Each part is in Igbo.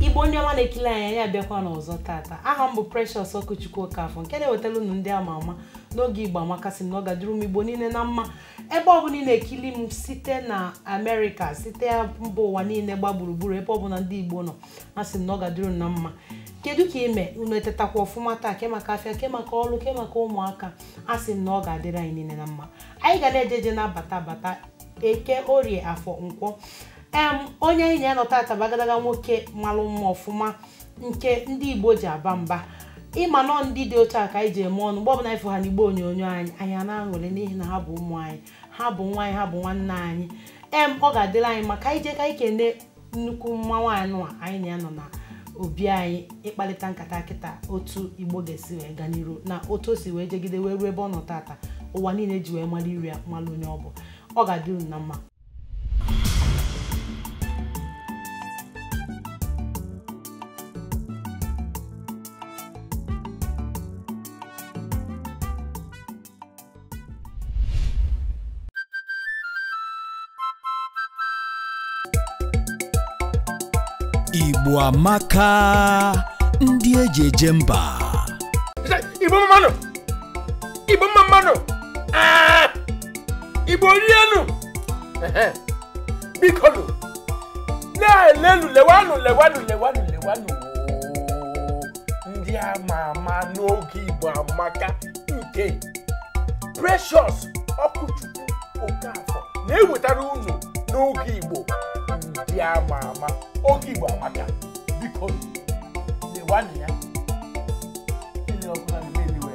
igbo ndị ọma na-ekili anyị anyị abịakwanụ ọzọ tata aha m bụ Precious Okwuchukwu Okafọ nke na-ewetara unu ndị ama ama n'oge igbo amaka asị m na ọ ga-adịrị ụmụ igbo niile na mma ebe ọbụla ị na-ekili m site na amerịka site mba ụwa niile gba gburugburu ebe ọbụla ndị igbo nọ asị m na ọ ga-adịrị unu na mma kedu ka ị me unu etetakwa ọfụma taa ke maka afịa ke maka ọrụ ke maka ụmụaka asị m na ọ ga-adịrị anyị niile na mma anyị ga na-eje eje na-abata bata eke orie afọ nkwọ em onye anyị na ya nọ tata bụ agadaga nwoke malụ mma ọfụma nke ndị igbo ji aba mba ị ma na ndị dị otu a ka anyị ji eme ọnụ mgbe ọbụla anyị fụ ha n'igbe onyonyo anyị anyị a na-aṅụrị n'ihi na ha bụ ụmụ anyị ha bụ nwa anyị ha bụ nwanne anyị em ọ ga-adịrị anyị mma ka anyị jee ka anyị kene nnukwu mmanwụ anụ a anyị na ya nọ na obi anyị ịkparịta nkata kịta otu igbo ga-esi wee gaa n'iru na otu o si wee jegide wee ruo ebe ọ nọ tata ụwa niile ji wee mara iru ya mara onye ọ bụ ọ ga-adị unu na mma Igbo amaka ndị eji eje mba Igbo mmanụ igbo mma mmanụ ah! igbo rienu bikonụ na-elenụ lewanụ lewanụ lewanụ lewanụ ndị ama ama n'oge igbo amaka nke precious okwuchukwu okafọ na-ewetara unu n'oge igbo ndị ama ama oge igbo amaka biko lewanụ ya ele ọbụla na-emeliwe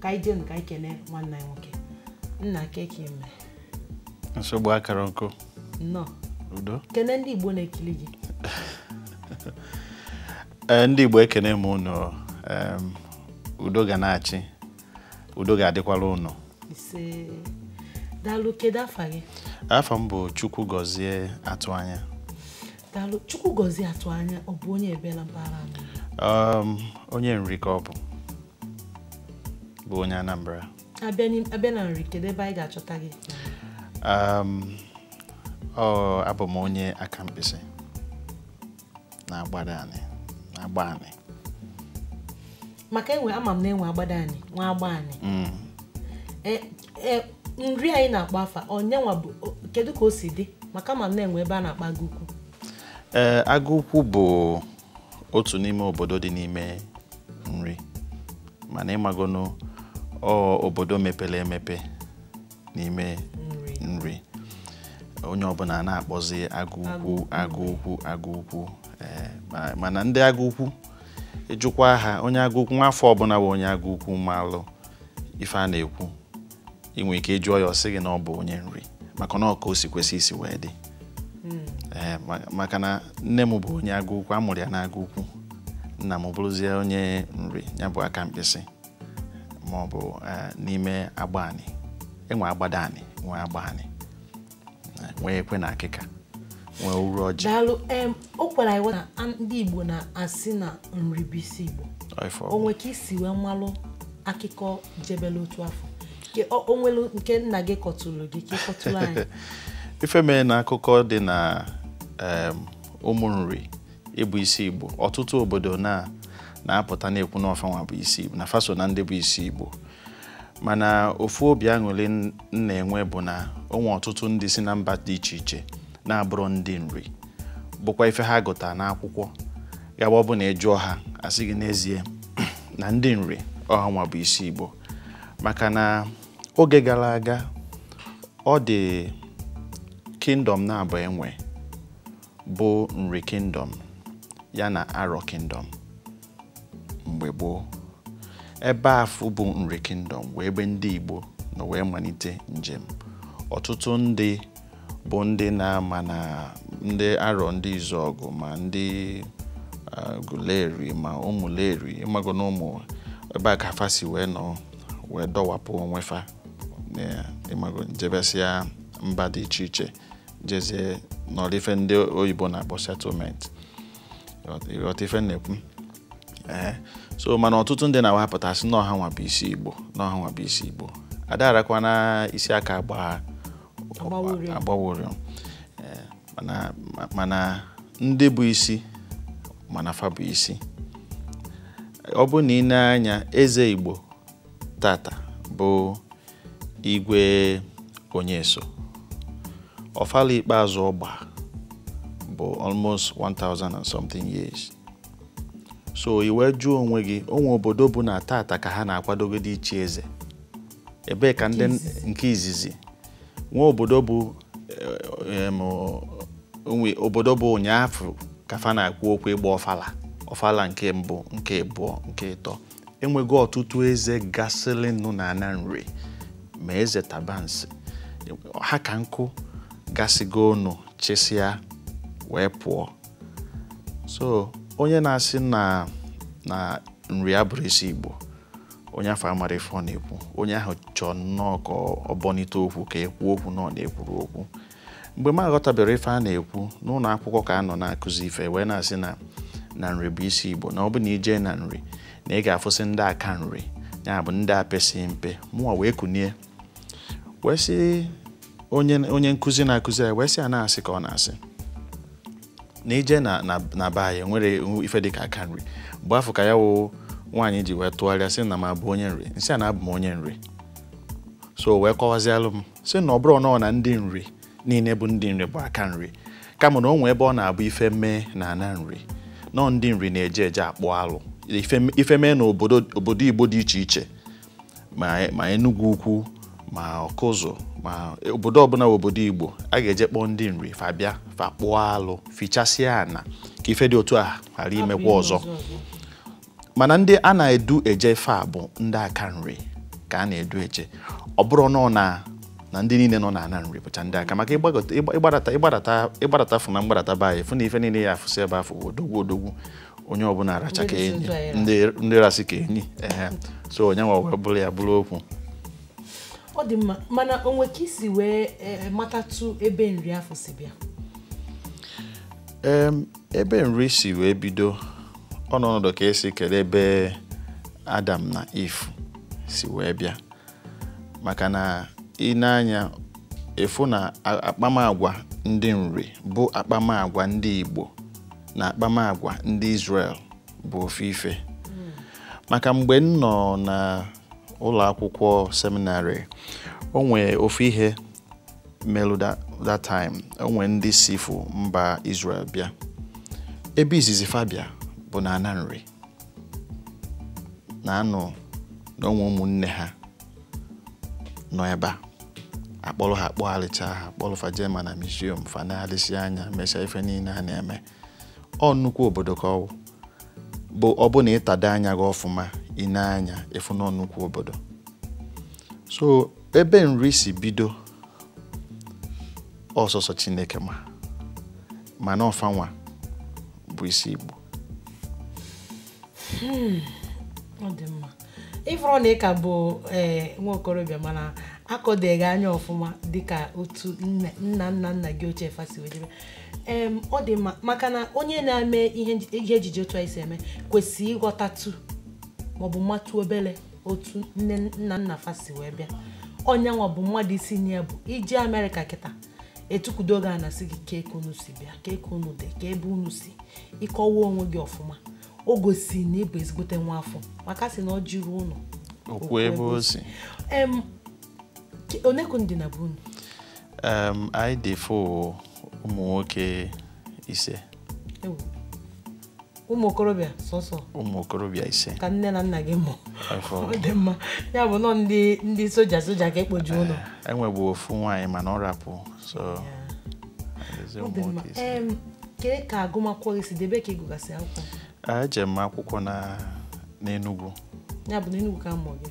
ka anyị jenu ka anyị kene nwanne anyị nwoke nna kee ka ị me nsogbu akara nkụ nnọọ udo kene ndị igbo na-ekiri gị ee ndị igbo ekene m unu em, udo ga na-achị udo ga-adịkwara unu ise daalụ kedu afa gị afa m bụ chukwugọzie atụanya daalụ chukwugọzie atụanya ọ bụ onye ebee na mpaghara anyị um, onye nri ka ọ bụ bụ onye anambra abịa na nri kedu ebe anyị ga-achọta gị um, ọ abụ m onye akamkpịsị na agbadanị na agbanị maka enwe ama m na e nwe agbadanị nwee agbanị mm. e, e, nri anyị na-akpọ afa ọnyanwa bụ kedu ka o si dị maka m ma na e nwee ebe a na-akpọ agụ ukwu ee agụ ukwu bụ otu n'ime obodo dị n'ime nri mana ị magonu obodo mepere emepe n'ime nri onye ọbụna na-akpọzi agụ ukwu agụ ukwu agụ ukwu eh, mana ndị agụ ukwu ị jụkwa ha onye agụ ukwu nwa afọ ọbụna bụ onye agụ ukwu malụ ife a na-ekwu ị nwere ike ị jụọ ya ọ sị gị na ọ bụ onye nri maka na ọ ka o si kwesị isi wee dị hmm. eh, maka na nne m bụ onye agụ ukwu a mụrụ ya n'agụ ukwu nna m bụrụzie onye nri ya bụ akamkpịsị ma ọ bụ eh, n'ime agbanị e nwee agbadanị nwee agbanị nwee ekwe na akịka nwee uruọjị daalụ em o kwere anyị na a- ndị igbo na-asị na nri bụ isi igbo Ọifọ. o nwere ka i si wee malụ akụkọ jebele otu afụ Ke- o o nwere nke nna gị kọtụrụ gị ka ị kọtụrụ anyị ife mere na akụkọ dị na em, ụmụ nri ịbụ isi igbo ọtụtụ obodo na na-apụta na-ekwu na ọ fa nwa bụ isi igbo na fa so na ndị bụ isi igbo mana ofu obi aṅụrị m na-enwe bụ na o nwee ọtụtụ ndị si na mba dị iche iche na-abụrọ ndị nri bụkwa ife ha gụtara n'akwụkwọ ga-abụ ọ bụ na ị jụọ ha asị gị n'ezie na ndị nri ọ ha nwa bụ isi Igbo maka na oge gara aga ọ dị kingdom naabọ e nwee bụ nri kingdom ya na arọ kingdom mgbe gboo ebe afụ bụ nri kingdom bụ ebe ndị Igbo nọ wee manite njem ọtụtụ ndị bụ ndị na-ama na ndị arọ ndị izuọgụ ma ndị aguleri ma ụmụleri ịmago na ụmụ ebe a ka fa si wee nọ wee dọwapụ onwe fa ịmago jebesịa mba dị iche iche jezie nọdụ ife ndị oyibo na-akpọ settlement ị ghọta ife m na-ekwu ee so mana ọtụtụ ndị na-awapụta sị na ọ ha nwa bụ isi igbo na ọ ha nwa bụ isi igbo a da-arakwana isi aka agba agba ụrịọ mana ndị bụ isi ma na fa bụ isi ọ bụrụ na i lee anya eze igbo tata bụ igwe onyeso ọfala ikpeazụ ọ gba bụ almost 1000 and something years so i wee jụọ onwe gị o nwee obodo bụ na tata ka ha na-akwadogodi ichi eze ebee ka ndị nke izizi nwee obodo bụ eh, em, o nwee obodo bụ ụnyaafụ ka fa na-ekwu okwu ịgba ọfala ọfala nke mbụ nke abụọ nke ịtọ e nwego ọtụtụ eze gasịrị nụ na ana nri ma eze tabansi ha ka nkụ gasịgo ọnụ chisịa wee pụọ so onye na-asị na na nri abụrọ isi igbo onye afụ amarọ ife ọ na-ekwu onye ahụ chọọ nnọọ ka ọ bọnite okwu ka e kwuo okwu na ọ na-ekwuru okwu mgbe m aghọtabere ife a na-ekwu n'ụlọ akwụkwọ ka a nọ na-akụzi ife wee na-asị na na nri bụ isi igbo na ọ bụ na i jee na nri na ị ga-afụsị ndị aka nri ya bụ ndị pesị mpe mụwa wee kunie wee sị onye nkụzi na-akụzi ya wee sị a na asị ka ọ na-asị na i jee na be anyị o nwerọ ife dịka aka nri mgbe afụ ka ya wụ nwaanyị ji wee tụgharịa sị na m abụ onye nri m sị a na abụ m onye nri so wee kọwazialụ m sị na ọ bụrọ nọọ na ndị nri niile bụ ndị nri bụ aka nri kama na o nwee ebe ọ na-abụ ife mee na ana nri na ọọ ndị nri na-eje eje akpụ alụ Ife- ife mee na obodo obodo igbo dị iche iche ma ma Enugu Ukwu ma Ọkụzụ ma obodo ọbụla bụ obodo Igbo a ga-eje kpọọ ndị nri fa bịa fa kpụọ alụ fịchasịa ana ka ife dị otu a ghara imekwa ọzọ mana ndị a na-edu eje ife a bụ ndị aka nri ka a na-edu eje ọ bụrọ nọ na na ndị niile nọ na ana nri bụcha ndị aka maka ịgbagọta- ịgba- ịgbadata ịgbadata ịgbadata fụ na mgbadata be anyị fụ na ife niile ị ya-afụsị ebe afụ odogwu odogwu onye ọbụla aracha ka Ndị enyi na-eso ụzọ anyị ndị ndị rasị ka enyi ehe so onye nwa wee bụrụ ya bụrụ okwu ọ dị mma mana o nwe ka i si wee eh, matatụ ebe nri afụ si bịa Em, ebe nri si wee bido ọ nọ ọnọdụ ka e si kere ebe adam na Eve si wee bịa maka na i nee anya ị fụ na a- akpamagwa ndị nri bụ akpamagwa ndị igbo na akpamagwa ndị israel bụ ofu ife maka mgbe m nọ na ụlọ akwụkwọ seminary o nwee ofu ihe melu that time o nwe ndị si fụ mba Israel bịa ebe izizi fa bịa bụ na ana nri na a nụ na o nwe ụmụnne ha nọ ebe a a kpọrọ ha kpọghalịcha ha kpọrọ fa jema na museum fa nee anya mechaa ife niile a na-eme ọ nnukwu obodo ka ọ wụ bụ ọ bụ na ị tado anya gị ọfụma i nee anya ị fụ na ọ nnukwu obodo so ebe Nri si bido ọ sọsọ Chineke ma mana ọ fa nwa bụ isi Igbo hmm, ọ dị mma ị fụrụ na ị ka bụ eh, nwa okorobịa mana akọdeghị anya ọfụma dịka otu nna nna nna gị ochie fa si wee jebe ọ dị mma maka na onye na-eme ihe ejije otu anyị si eme kwesịrị ịghọtatụ maọbụ matụ obere otu nne nna nna fa si wee bịa ọ nya nwa bụ mmadụ isi nya bụ i jee Amerịka kịta e tukwudo gị a na-asị gị kee ka unu si bịa kee ka unu dị kee ebe unu si ị kọwa onwe gị ọfụma o gosi na ị bụ ezigbote nwa afọ maka a sị na o jirọ ọnụ ekwu ebe o si one ka unu dị na be unu anyị dị fụ ụmụ nwoke ise ụmụ okorobịa sọsọ ụmụ okorobịa ise ka nne na nna gị mụ ọ dị mma ya bụ na ọ ndị ndị soja soja ka e kpoju ụnọ eh, e nwebu ofu nwaanyị mana ọ rapụ so kee ka agụmakwụkwọ gị si dị ebee ka ị gụgasị akwụkwọ eje m akwụkwọ na n'Enugu ya bụ n'Enugu ka a mụọ gị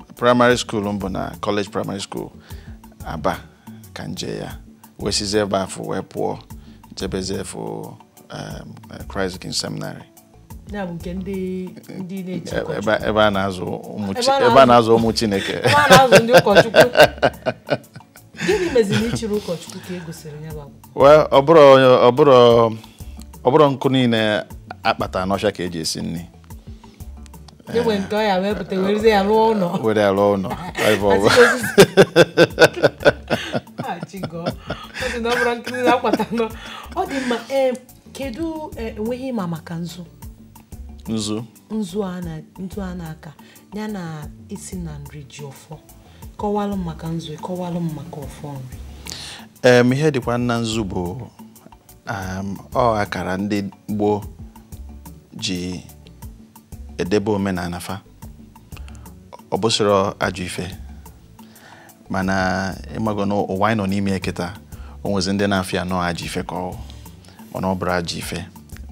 primary school m bụ na College Primary School Aba ka n je ya wee sizi ebe afụ wee pụọ jebezi efu um, Christ King Seminary ebe a na-azụ ụmụ Chineke gịnị meziri i chirọ ụkọchukwu ka e gosiri ya ọ bụrọ nkụ niile a kpata n'ọfịa ka e ji esi nri e nwe nke a ya-ewepụta werezi ya rụọ ụlọ were alụ ụlọ Ife ọbụ- achịgo ọ dị na ọ bụrọ nkụ niile a kpata n'ọ ọ dị mma ee kedu eh, e nwe ihe ị ma maka nzu nzu nzu a na nzu a na-aka ya na ị sị na Nri ji ọfọ kọwalụ m maka nzu kọwalụ m maka ọfọ Nri em ihe dịkwa nna nzu bụ um, ọ akara ndị gboo ji edebe omenana fa ọ bụsịrọ ajọ ife mana ị mago na ụwa anyị nọ n'ime kịta o nwezi ndị na-afụ ya na ọ ajọ ife ka ọ mana ọ bụrọ ajọ ife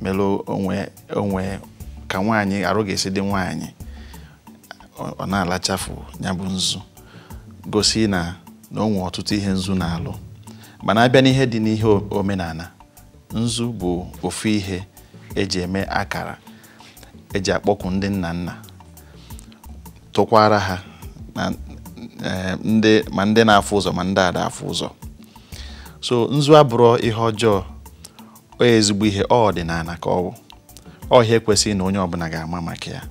melụ o nwe o nwe ka nwaanyị arụ ga-esi dị nwaanyị ọ na-alachafụ nya bụ nzu gosi na na o nwee ọtụtụ ihe nzu na-alụ mana a bịa n'ihe dị n'ihe omenana nzu bụ ofu ihe e ji eme akara e ji akpọku ndị nna nna tụkwara ha na eh, ndị ma ndị na-afụ ụzọ ma ndị ada afụ ụzọ so nzu abụrọ ihe ọjọọ o ezigbo ihe ọ ọdịnana ka ọ bụ ọ ihe kwesịrị na onye ọbụna ga-ama maka ya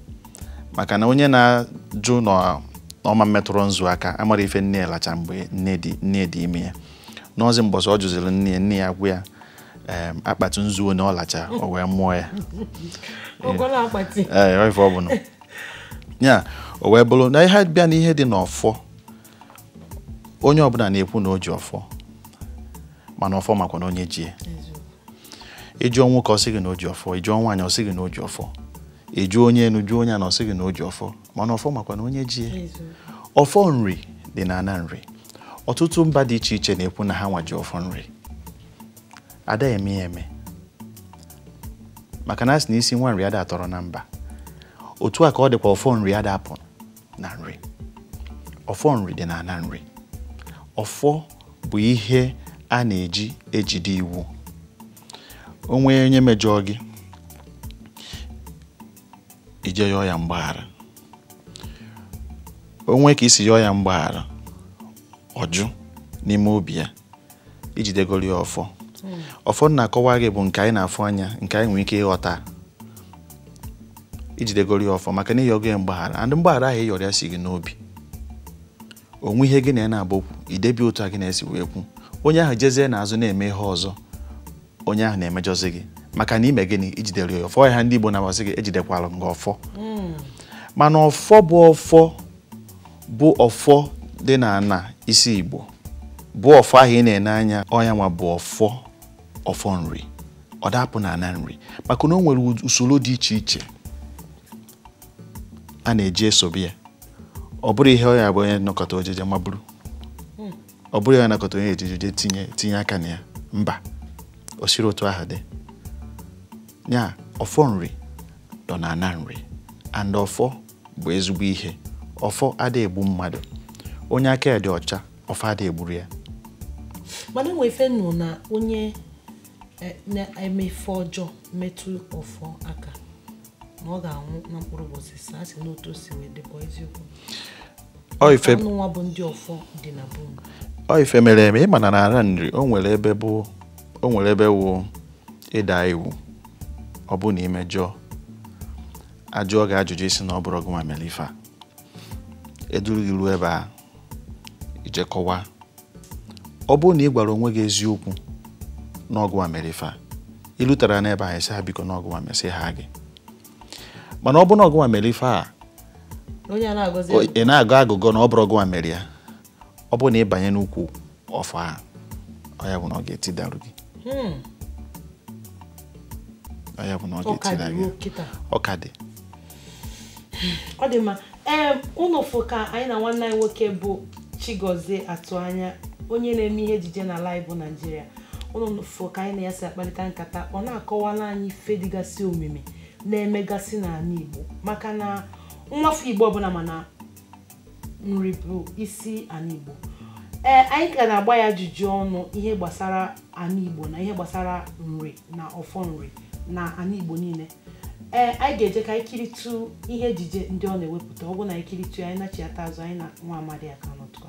maka na onye na-ajụ na ọ ma emetụrụ nzu aka amarọ ife nne ya lacha mgbe nne dị nne dị ime ya nọzi mbọsị ọ jụziri nne ya nne ya gwa ya em, akpati nzu one ọ lacha o wee mụọ ya ọgọla akpati ee ọ ife ọ bụla ya o wee bụrụ na ị bịa na ihe dị n'ọfọ onye ọbụla na-ekwu na o ji ọfọ mana ọfọ makwa na onye ji ya ị jụọ nwoke ọ sị gị na o ji ọfọ ị jụọ nwaanyị ọ sị gị na o ji ọfọ ị jụọ onye enu jụọ onye ana ọ sị gị na o ji ọfọ mana ọfọ makwa na onye ji ọfọ nri dị na ana nri ọtụtụ mba dị iche iche na-ekwu na ha nwa ji ọfọ nri ada eme ya eme maka na a sị na isi nwa nri ada atọrọ na mba otu a ka ọ dịkwa ọfọ nri ada apụ na nri ọfọ nri dị na ana nri ọfọ bụ ihe a na-eji ejide iwu o nwee onye mejọọ gị i jee yọọ ya mgbaghara o nwee ka i si yọọ ya mgbaghara ọ jụ n'ime obi ya i jidegoro ya ọfọ hmm. ọfọ na-akọwa gị bụ nke anyị na-afụ anya nke anyị nwere ike ịghọta i jidegoro ya ọfọ maka na ị yọgo ya mgbaghara and mgbaghara ahụ ị yọrọ ya si gị n'obi o nwee ihe gị na ya na-agba okwu i debe otu a gị na ya si wee kwu onye ahụ jezie n'azụ na-eme ihe ọzọ onye ahụ na-emejọzi gị maka na i me gịnị i jidere ya ọfọ ya ndị Igbo na-asị gị ejidekwara m gị ọfọ hmm. mana ọfọ bụ ọfọ bụ ọfọ dị n'ana isi Igbo bụ ọfọ ahụ ị na-ene anya ọ nya nwa bụ ọfọ ọfọ nri ọ da apụ n'ana nri maka na o nwere usoro dị iche iche a na-eji esobe ya ọ bụrọ ihe ọ ya-abụ onye nọkata o jije maburu ọ bụrọ a nọkata onye ejiji jee tinye tinye aka na ya mba o sirọ otu ahụ dị ya ọfọ nri dọ na ana nri and ọfọ bụ ezigbo ihe ọfọ ada egbu mmadụ onye aka ya dị ọcha ọfọ ada egburu ya mana e nwe ife nụ na onye eh, na-eme ife ọjọọ metụ ọfọ aka na ọ ga-anwụ na mkpụrụ ụbọchị asaa a sị n'otu o si wee dịkwa eziokwu anyị nwa bụ ndị ọfọ dị na be ọ ife mere eme ị ma na n'ana nri o nwere ebe bụ o nwere ebe wụ ịda iwu ọ bụ na i mejọọ a jụọ gị ajụjụ ị sị na ọ bụrọ gị nwa mere ife a e duru gị ruo ebe a i je kọwaa ọ bụrụ na ị gwara onwe gị eziokwu na ọ gịnwa mere ife a ịlụtara n'ebe ahụ sị ha biko na ọ gịnwa mesị ha gị mana ọ bụrụ na ọ gịnwa mere ife a ị na-agọ agụgọ na ọ bụrọ gịnwa mere ya ọ bụrụ na ị banye n'ukwu ọfọ a ọ ya bụ na ọ ga-etidarụ gị hmm. ọ ya bụ na ọ ga-etida gị ọ ka dị ọ dị mma ee ụnụ fụ ka anyị na nwanne anyị nwoke bụ Chigozie Atụanya onye na-eme ihe ejije n'ala anyị bụ Naijiria ụnụ fụ ka anyị na ya si akparịta nkata ọ na-akọwalụ anyị ife dịgasị omimi na-emegasị n'ala Igbo maka na nwafọ Igbo ọbụla ma na nri bụ isi ala Igbo ee anyị ka na-agba ya ajụjụ ọnụ ihe gbasara ala Igbo na ihe gbasara nri na ọfọ nri na ala Igbo niile ee anyị ga-eje ka anyị kiritụ ihe ejije ndị ọ na-ewepụta ọ bụ na anyị kiritụ ya anyị nachiata azụ anyị na nwa amadi a ka nọtụkọ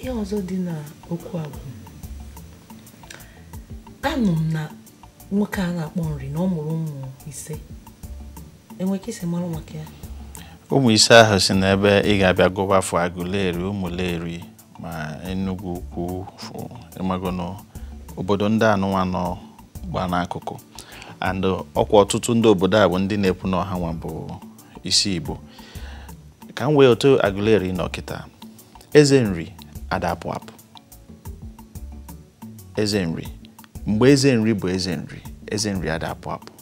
ihe ọzọ dị na okwu a bụ anụ m na nwoke a na-akpọ nri na ọ mụrụ ụmụ ise e nwe ka i si mara maka ya ụmụ ise ahụ si n'ebe ị ga-abịa gụwa afa Aguleri Umuleri ma Enugu ukwu fụ ị magonụ obodo ndị anụnwa nọgba n'akụkụ and ọ kwa ọtụtụ ndị obodo a bụ ndị na-ekwu na ọ hanwa bụ isi igbo ka m wee otu Aguleri nọ kịta eze nri ada apụ apụ eze nri mgbe eze nri bụ eze nri eze nri ada apụ apụ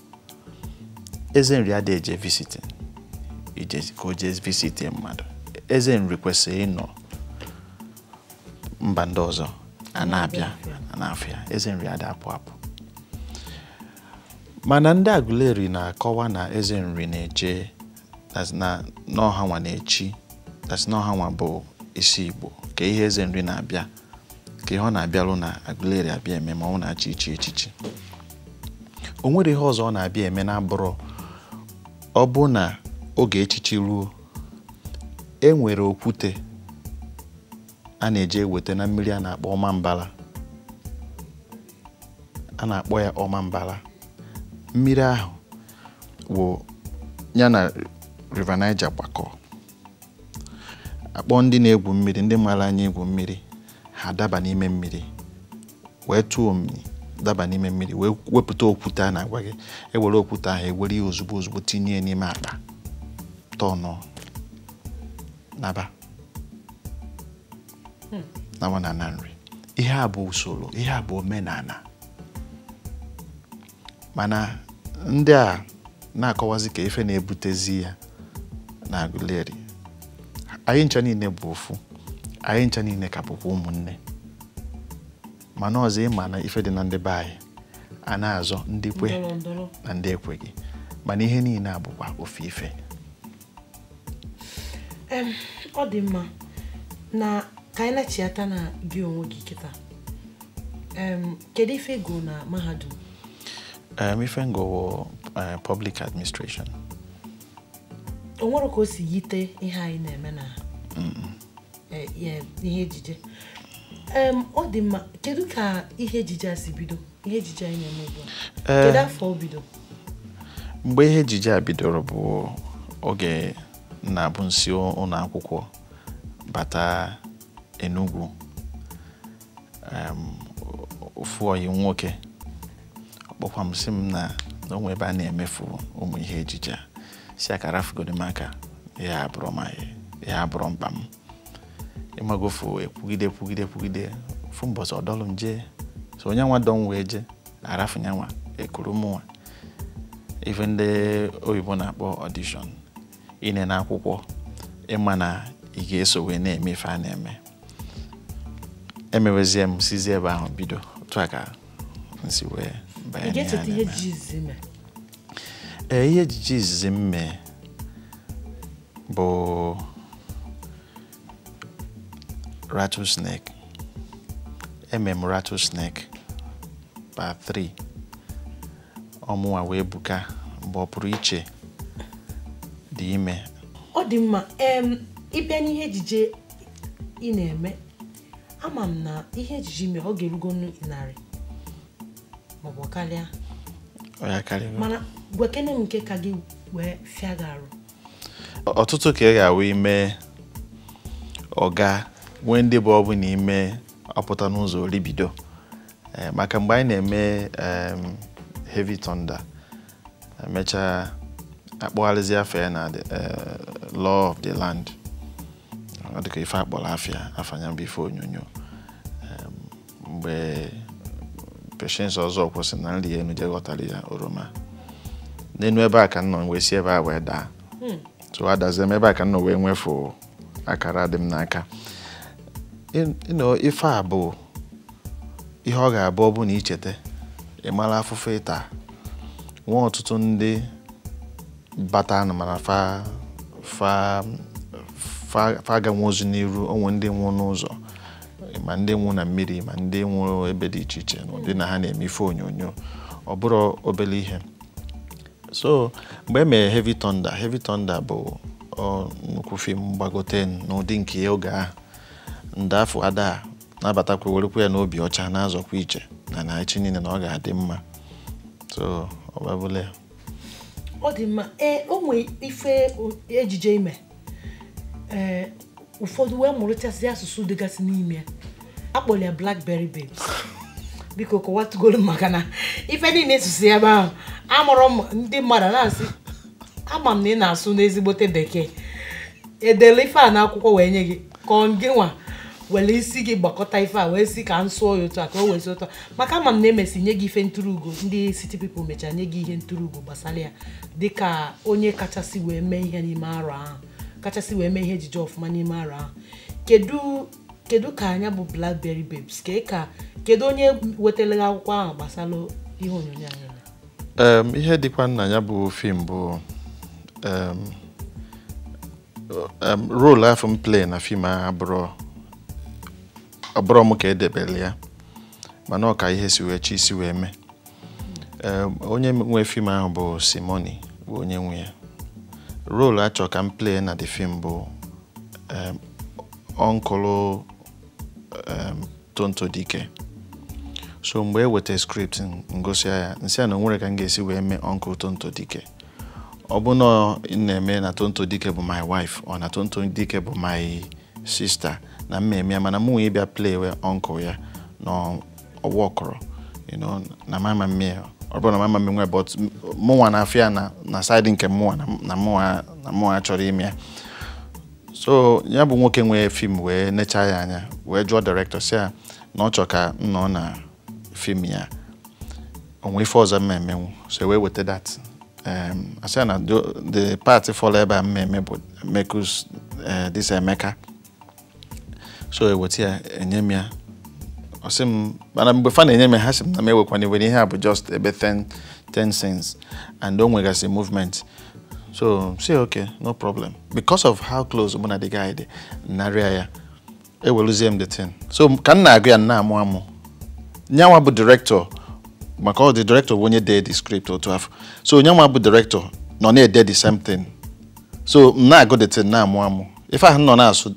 eze nri ada eje visiting ije ka o jee visitie mmadụ eze nri kwesịrị ịnọ mba ndị ọzọ ana-abịa ana-afụ ya eze nri ada apụ apụ mana ndị Aguleri na-akọwa na eze nri na-eje that's na ọ hanwa na-echi that's na ọ hanwa bụ isi Igbo kee ihe eze nri na-abịa kee ihe ọ na-abịalụ na Aguleri abịa eme ma ọ wụ na a chọ ichi echichi o nwere ihe ọzọ ọ na-abịa eme na-abụrọ ọ bụrụ na oge echichi ruo e nwere okwute a na-eje eweta na mmiri a na-akpọ Ọmambala a na-akpọ ya Ọmambala mmiri ahụ wụ ya na River Niger gbakọ a kpọọ ndị na-egwu mmiri ndị mara anya igwu mmiri ha daba n'ime mmiri wee tụọ omimi daba n'ime mmiri wee wepụta okwute a na-agwa gị e were okwute ahụ e were ya ozugbo ozugbo tinye ya n'ime akpa tọnụ naba hmm. na nwa na ana Nri ihe a bụ usoro ihe a bụ omenana mana ndị a na-akọwazi ka ife na-ebutezi ya na Aguleri anyị ncha niile bụ ofu anyị ncha niile ka bụkwa ụmụnne mana ọzọ ịma na ife dị na ndị be anyị a na-azọ ndị kwe na ndị ekweghị mana ihe niile a bụkwa ofu ife ọ dị mma na ka anyị nachiata na gị onwe gị kịta kedu ife ị gụ na mahadum ife m gụ eh, public administration o nwere ka o si yite ihe anyị na-eme na e, ihe ejije ọ dị mma kedu ka ihe ejije a si bido ihe ejije anyị na-eme ugbu a e, kedu afọ o bido mgbe ihe ejije a bidoro bụ oge na-abụ m si ụlọ akwụkwọ bata Enugu ofu ọyị m nwoke ọ kpọkwa m sị m na o nwe ebe a na-emefu ụmụ ihe ejije a sị ya ka rafugodi m aka ihe a abụrọ m ihe a abụrọ mkpa m ị magofu ekwugide kwugide kwugide ofu mbọsị ọ dọlụ m jee so onye nwa dọ m wee jee a rafu ya nwa e kuru m nwa ife ndị oyibo na-akpọ audition inene akwụkwọ ịma na ị ga-eso wee na-eme ife a na-eme emewezie m sizi ebe ahụ bido otu a ka m si wee banye n'ihe a na-eme. ee ihe ejije izizi m mee bụ rattlesnake eme m rattlesnake part 3 ọ mụnwa wee buka mgbe ọ pụrụ iche dị ime ọ dị mma ị bịa n'ihe ejije ị na-eme ama m na ihe ejije i mee ọ ga-erugo narị maọbụ karịa mana gwakene m nke ka gị wee fịa gị arụ ọtụtụ ka ị ga-awụ ime ọ ga-enwe ndị bụ ọ bụ na i mee ọ pụta n'ụzọ oribido Eh, maka mgbe anyị na-eme heavy thunder emechaa a kpọgharịzie afa ya na eh, law of the land ọ dịka ife a kpọrọ afa ya afa nya bụ ife onyonyo mgbe Patience Ọzọkwọ sị na m rịa enu jee ghọtara ya oroma n'enu ebe a ka m nọ wee si ebe a wee daa hmm. so adazie m ebe a ka m nọ wee m wee fụ akara dị m n'aka In- you know, ife a bụ ihe ọ ga-abụ ọ bụ na i cheta ịmara afụfụ ị ta nwee ọtụtụ ndị batanụ mana fa fa fa fa aganwurozi n'iru o nwee ndị nwụ n'ụzọ ma ndị nwụ na mmiri ma ndị nwụrụ ebe dị iche iche n'ụdị na ha na-eme ife onyonyo ọ bụrọ obele ihe so mgbe e mere heavy thunder heavy thunder bụ ọ, nnukwu fim gbagote m n'ụdị nke ya oge ahụ ndị afụ ada nabatakwa werekwa ya n'obi ọcha na-azọkwa ije na na echi niile na ọ ga-adị mma so ọ babụla ya ọ dị mma ee o nwee ife ejije i me ee ụfọdụ wee mụrụchasị asụsụ dịgasị n'ime ya a kpọrọ ya blackberry babes biko kọwatụgoro maka na ife niile ị sụsị ebe ahụ amarọ m ndị mmadụ na-asị ama m na ị na-asụnụ ezigbote bekee e dele ife a n'akwụkwọ wee nye gị ka ọ gị nwa were isi gị gbakọta ife a wee sị ka m sụọ ya otu a ka o wee si ụtọ maka ama m na e mesị nye gị ife nturu ugo ndị city people mechaa nye gị ihe nturu ugo gbasara ya dịka onye kachasị wee mee ihe n'ime arọ ahụ kachasị wee mee ihe ejije ọfụma n'ime arọ ahụ kedu kedu ka nya bụ blackberry babes ka ka kedu onye wetara gị akwụkwọ ahụ gbasara ihe onyonyo anyị na Em, ihe dịkwanụ na nya bụ fim bụ em, um, role afụ m play na fim ahụ abụrọ abụrọ m ka e debere ya mana ọ ka ihe si wee chi si wee mee um, onye nwe fim ahụ bụ Simony bụ onye nwe ya role a chọ ka m play na the fim bụ um, uncle um, tonto dikeh so mgbe e weta script m gụsịa ya m sị ya na o nwerọ ka m ga-esi wee mee uncle tonto dikeh ọ bụ na unu na-eme na tonto dikeh bụ my wife or na tonto dikeh bụ my sister na m ma-eme ya mana mụnwa ịbịa play uncle ya na ọ workọrọ na m ama emenwu ọ bụrọ na m ama emenwu but mụnwa na-afụ ya na side nke mụnwa na mụnwa achọrọ ime ya so nya bụ nwoke nwe fim wee necha ya anya wee jụọ director sị ya na ọ chọ ka m nọ na fim ya o nwee ife ọzọ m ma-emenwu so e wee weta that um, a sị ya na the part fọlụ ebe a m ma-eme bụ mekus uh, this emeka so e weta ya e nye m ya ọ sị m mana mgbe fa na-enye m ha sị m na m ewekwana iwe na ihe a bụ just ebe 10 scenes and o nwegasị movement so sị okay no problem because of how close mụ na the guy dị narịa ya eweluzie m the thing so ka m na-agụ ya m na-amụ amụ nyanwa bụ director maka ọ the director bụ onye dee the script otu afụ so nyanwa bụ director nọ na-ede the same thing so m na-agụ the thing na-amụ amụ ife ahụ ọ nọ na-asụ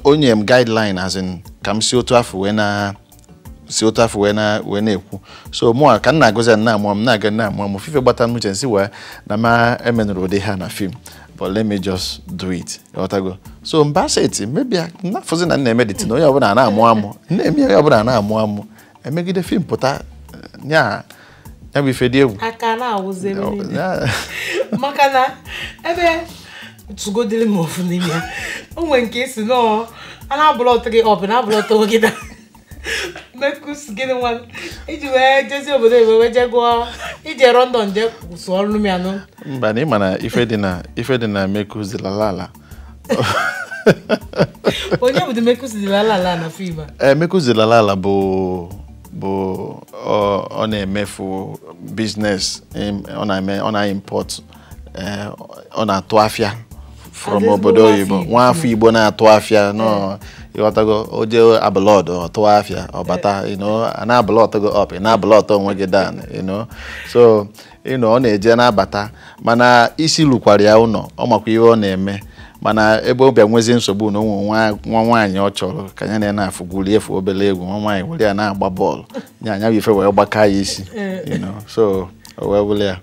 o nye m guideline as in ka m si otu afụ wee na si otu afụ wee na- wee na-ekwu so mụ a ka m na-agụzi ya na-amụ m na-aga na-amụ amụ ife gbata m uche m sị wee na m emenurọ ụdị ihe a na fim but let me just do it ghọtago so m ba seti m abịa na-afụzi na m na-eme the thing onye ọbụla na-amụ amụ na-eme onye ọbụla na-amụ amụ emegide fim pụta eh, nya ya bụ ife dị egwu ọ ka na-ewuzi ebe niile Ya- maka na ebe tụgodiri m ofu n'ime ya o nwere nke a sị nọọ a na-abụlọtụ gị ọp na-abụlọtụ gị dan Mekus gịnị nwa m. i ji wee jezi obodo oyibo wee jee gụọ ije london jee sụọrọ m ya nụ mba na ị ma na ife dị na ife dị na mekuzilala ala onye bụ mekụziri ala ala na fim a ee eh, mekụziri ala ala bụ bụ ọ na-eme ofu biznes ọ na-eme ọ na-impọt eh, ọ na-atụ afịa from obodo oyibo nwa afọ igbo na-atụ afịa nọ eh. ị ghọtago o je abụlọd ọ tụ afịa ọ bata you know na-abụlọt gị ọp na-abụlọt onwe gị dan you know so you know ọ na-eje na-abata mana isi lukwara ya ụnọ ọ makwa ihe ọ na-eme mana ebe ọ bịa nwezi nsogbu na o nwe nwa nwaanyị ọ chọrọ ka ya na onye afụ gwurie ofu obere egwu nwa nwaanyị were ya na-agba bọọlụ nya nya bụ ife wee gbaka ya isi so o wee bụrụ ya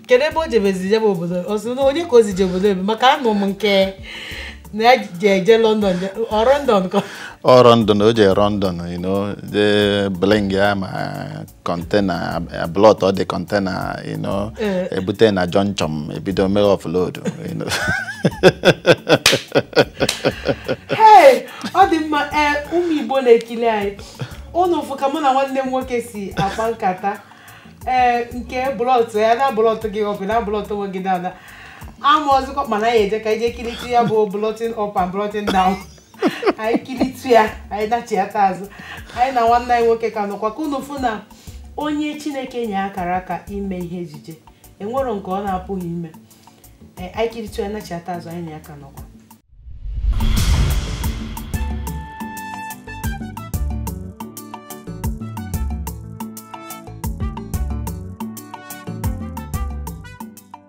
kedu ebe o jebezi jebe obodo ọsọ onye ka o si je obodo oyibo maka anụ m nke na ya ji eje london ọ london ka ọ london o je london you know je Birmingham kọntena blọt the kọntena e bute na jọnchọn ebido mere ọflod ọ dị mma ee ụmụ Igbo na-ekili anyị unu fụ ka mụ na nwanne m nwoke si akpa nkata ee nke blọtụ ya na-ablọtụ gị ọp na-ablọtụ onwe gị dan amazikwa m na anyị eje ka anyị je kiritụ ya bụ blọtin up and blọtin down anyị kiritụ ya anyị nachiata azụ anyị na nwanne anyị nwoke ka nọkwa ka unu fụ na onye chineke nye akara aka ime ihe ejije enwerọ nke ọ na-apụghị ime Ee, anyị kiritụ ya nachiata azụ anyị na ya ka nọkwa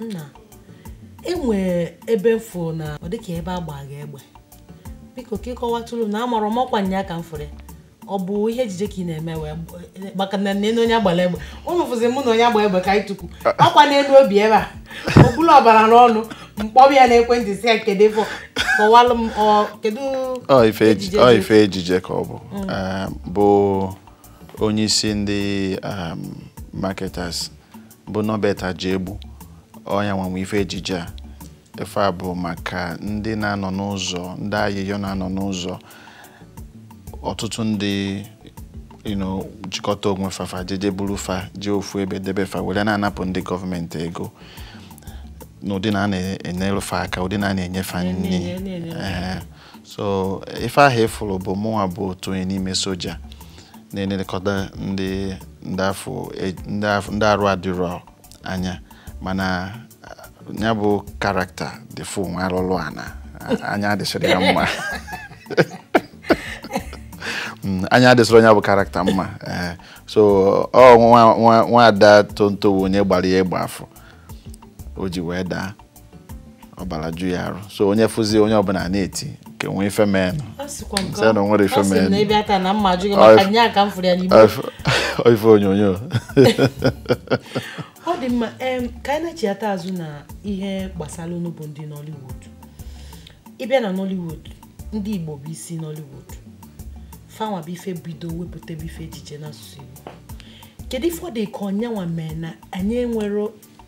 nna e nwee ebe m fụ na ọ dịka ebe a gbaa gị egbe biko ka ị kọwatụrụ na amarọ m ọkwa nya ka m fụrụ ya ọ bụ ihe ejije ka ị na-eme wee maka na nne onye agbara egbe ụnụ fụzi mụ na onye agbara egbe ka anyị tukwu akwa n'elu obi ebe a ọ kpụrụ ọbara n'ọnụ m kpọbe ya n'ekwentị sị ya kedu ife kọwalụ m kedu ife ejije ka ọ bụ mm. ehm, bụ onye isi ndị ehm, marketers bụ Norbert Ajaegbu ọ nyanwa nwe ife ejije a ife a bụ maka ndị na-anọ n'ụzọ ndị ayịyọ na-anọ n'ụzọ ọtụtụ ndị jikọta onwe fa fa jeje buru fa jee ofu ebe debe fa were na-anapụ ndị gọọmenti ego n'ụdị na a na-enyere fa aka ụdị na a na-enye fa nri so ife ahụ ị fụrụ bụ mụnwa bụ otu onye n'ime soja na-elekọta ndị e, ndị arụ adịrọ anya mana ya bụ character dị fụ nwa alụlụ ana anya adịsịrọ ya mma Mm, anya adịsịrọ nya bụ character mma eh, so ọ nwaada Tonto wụ onye gbara ya egbe afụ o ji wee daa ọbara ju ya arụ so onye fụzie onye ọbụla na-eti nke nwee ife menụ sị na nwere ife menụ ife onyonyo ọ dị mma ka anyị na-echighata azụ na ihe gbasara unu bụ ndị Nollywood ị bịa na Nollywood ndị Igbo bụ isi Nollywood fanwa bụ ife bido wepụtabe ife ejije n'asụsụ Igbo kedu ife ọ dị ka ọ nyanwa mee na anyị enwerọ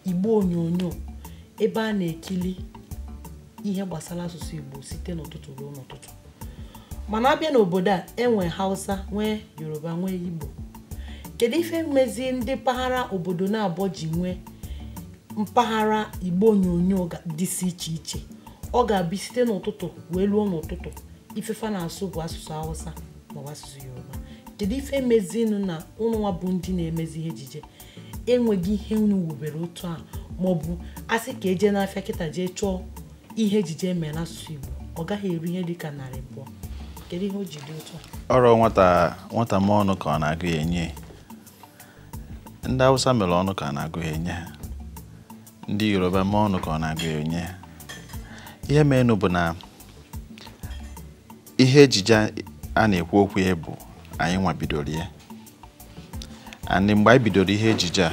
igbe onyonyo ebe a na-ekili ihe gbasara asụsụ igbo site n'ụtụtụ ruo n'ụtụtụ mana a bịa n'obodo a e nwee hausa nwee yoruba nwee igbo kedu ife mezi ndị mpaghara obodo naabọ ji nwee mpaghara igbe onyonyo dịsị iche iche ọ ga-abụ site n'ụtụtụ wee ruo n'ụtụtụ ife fa na-asụ bụ asụsụ hausa maọbụ asụsụ yoruba kedu ife mezinụ na ụnụnwa bụ ndị na-emezi ihe ejije enweghị ihe unu wubere otu a maọbụ a sị ka e jee n'afịa kịta jee chọọ ihe ejije e mere n'asụsụ Igbo ọ gaghị eru ihe dịka narị abụọ kedu ihe o ji dị otu a ọrụ nwata nwata mee ọnụ ka ọ na-agụ ya e nye ndị Hausa mere ọnụ ka ọ na-agụ ya e nye ha ndị Yoruba mee ọnụ ka ọ na-agụ ya e nye ha ihe menụ bụ na ihe ejije a na-ekwu okwu ya bụ anyịnwa bidoro ya and mgbe anyị bidoro ihe ejije a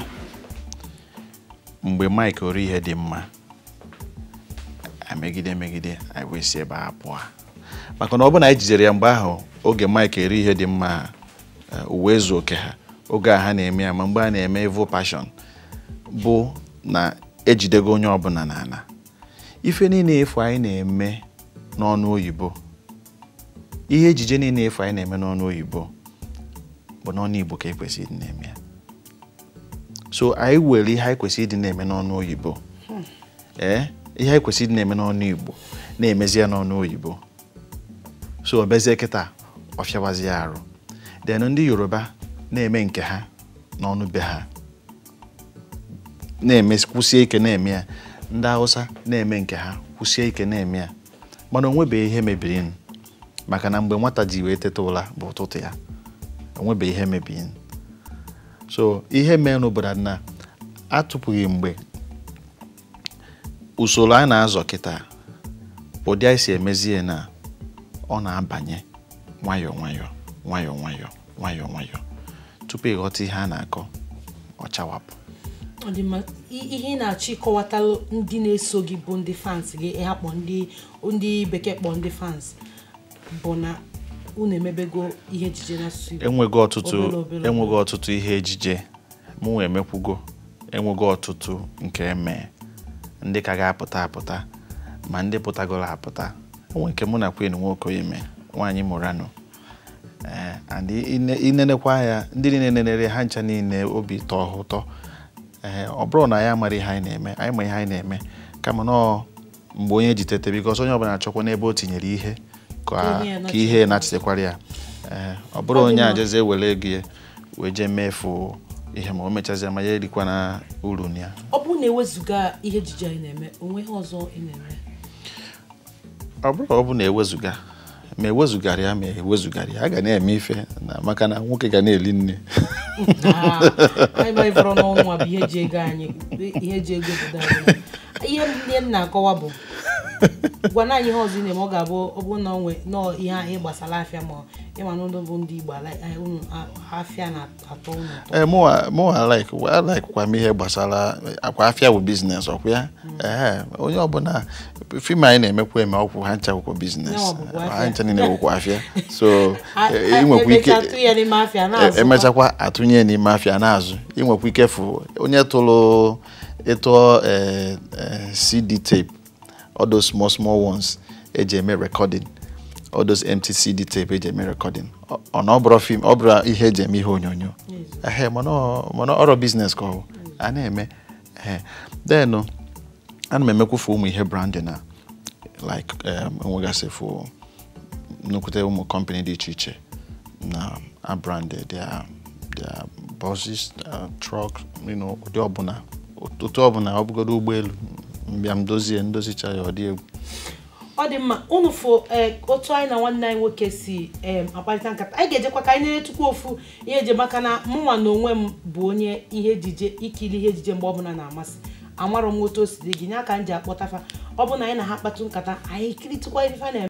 mgbe Mike Orihedimma megide megide anyị wee si ebe a hapụ ya maka na ọ bụ na anyị jidere ya mgbe ahụ oge Mike Orihedimma eh, Uwaezuoke ha oge a ha na-eme ya ma mgbe a na-eme Evil Passion bụ na ejidego onye ọbụla n'ala ife niile afụ anyị na-eme n'ọnụ oyibo ihe ejije niile afụ anyị na-eme n'ọnụ oyibo bụ n'ọnụ igbo ka ekwesị ịdị na-eme ya so anyị were ihe anyị kwesịrị ịdị na-eme n'ọnụ oyibo ee eh, ihe anyị kwesịrị ịdị na-eme n'ọnụ igbo na-emezi ya n'ọnụ oyibo so ọ bịazie kịta ọ fịawazi ya arụ then ndị Yoruba na-eme nke ha n'ọnụ be ha na-eme kwụsie ike na-eme ya ndị Hausa na-eme nke ha kwụsie ike na-eme ya mana o nwebeghị ihe mebirinụ maka na mgbe nwata ji wee teta ụra bụ ụtụtụ ya o nwebeghị ihe mebirinụ so ihe mere n'obodo na atụpụghị mgbe usoro anyị na-azọ kịta ụdị anyị si emezie na ọ na-abanye nwayọọ nwayọọ nwayọọ nwayọọ nwayọọ nwayọọ tupu ị ghọta ihe a na-akọ ọ chawapụ ihe ị na-achọ ịkọwata ndị na-eso gị bụ ndị fans gị ha kpọ ndị bekee kpọ ndị fans bụ na unu emebego ihe ejije n'asụsụ Igbo enwego ọtụtụ enwego ọtụtụ ihe ejije mụ emekwugo enwego ọtụtụ nke m mee ndị ka ga-apụta apụta ma ndị pụtagoro apụta o nwe nke mụ na Queen Nwokoye mee nwaanyị Murano eh, and ị nenekwa ya ndị niile nenere ha ncha niile obi tọọ ha ụtọ ee eh, ọ bụrọ na anyị amarọ ihe anyị na-eme anyị ma ihe anyị na-eme kama nọọ mgbe onye ji tete because onye ọbụla achọkwa n'ebe o tinyere ihe ka ihe na-achịtekwara ya ee eh, ọ bụrọ onye ejezie were ego ya wee jee mefu ihe ma o mechazie ma ya erikwana uru ya ọ bụrụ na ewezụga ihe ejije anyị na-eme o nwe ihe ọzọ ị na-eme ọ bụrụ ọ bụ na ewezụga ma ewezụgara ya ma ewezụgara ya a ga na-eme ife na maka na nwoke ga na-eli nne ah, ihe m na-akọwa bụ gwanụ anyị ihe ọzọ ị na-eme ọ ga-abụ ọ bụrụ na ọ nwee nọọ ihe ahụ gbasara afịa ma ị ma na ụlọ bụ ndị Igbo afịa na ee eh, mụwa like I like kwa m ihe gbasarakwa afịa bụ business ọkwa ya ee onye ọbụla film anyị na-emekwa eme ọkwụ ha ncha wụkwa business ha ncha niile wụkwa afịa so ị nwekwa ike emechakwa atụnye n'ime afịa na-azụ ị nwekwa ike fụ onye tụrụ ịtụọ eh, eh, cd tape all those small small ones eji eme recording all those empty CD tape eji eme recording ọ na ọ bụrụ film ọ bụrụ ihe eji eme ihe onyonyo ehe mana ọ- mana ọrụ business ka ọ bụ a na-eme ehe then uh, ana m emekwufu ụmụ ihe branding a like um, enwegasị fụ nnukwute ụmụ company dị iche iche na-abrand their their buses uh, trucks you know ụdị ọbụla otu ọbụla ọ bụgodu ụgbọelu m bịa m dozie m dozicha ya ọ dị egwu ọ dị mma unu fụ eh, otu anyị na nwanne anyị nwoke si em, akparịta nkata anyị ga-ejekwa ka anyị netụkwa ofu ihe eji maka na mụnwa na onwe m bụ onye ihe ejije ikiri ihe ejije mgbe ọbụla na-amasị amarọ m otu o si dị gị nya ka m ji akpọta fa ọ bụ na anyị na ha kpatụ nkata anyị kiritụkwa ife fa na-eme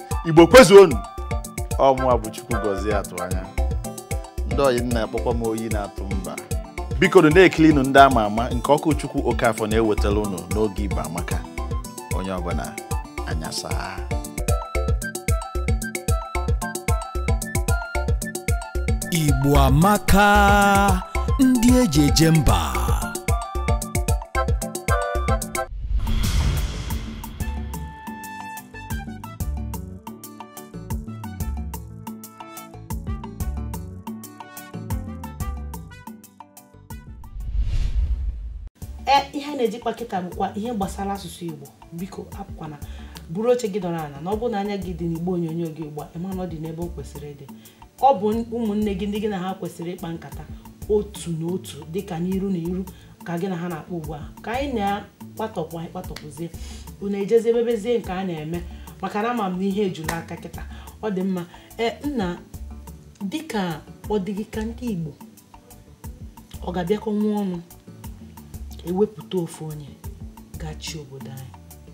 igbo kwezuonu ọ mụwa bụ Chukwugọzie Atụanya ndị ọyị m na-akpọkwa m oyi na-atụ mba biko na-ekilinu ndị ama ama nke Okwuchukwu Okafọ na-ewetara unu n'oge Igbo amaka onye ọbụla anya saa Igbo amaka ndị eji eje mba e ihe a na-eje ịkpa kịta bụkwa ihe gbasara asụsụ igbo biko apụkwana buru oche gị dọrọ ala na ọ bụrụ na anya gị dị n'igbe onyonyo gị ugbu a ị ma na ọ dị n'ebe o kwesịrị ịdị ọ bụ ụmụnne gị ndị gị na ha kwesịrị ịkpa nkata otu na otu dịka n'iru na iru ka gị na ha na-akpa ugbu a ka anyị na-akpatọpụ anyị kpatọpụzie unu ejezi emebezie nke a na-eme maka na ama m na ihe ejula aka kịta ọ dị mma ee nna dịka ọ dị gị ka ndị Igbo ọ ga-abịakọnwu ọnụ ewepụta ofu onye ga-achị obodo anyị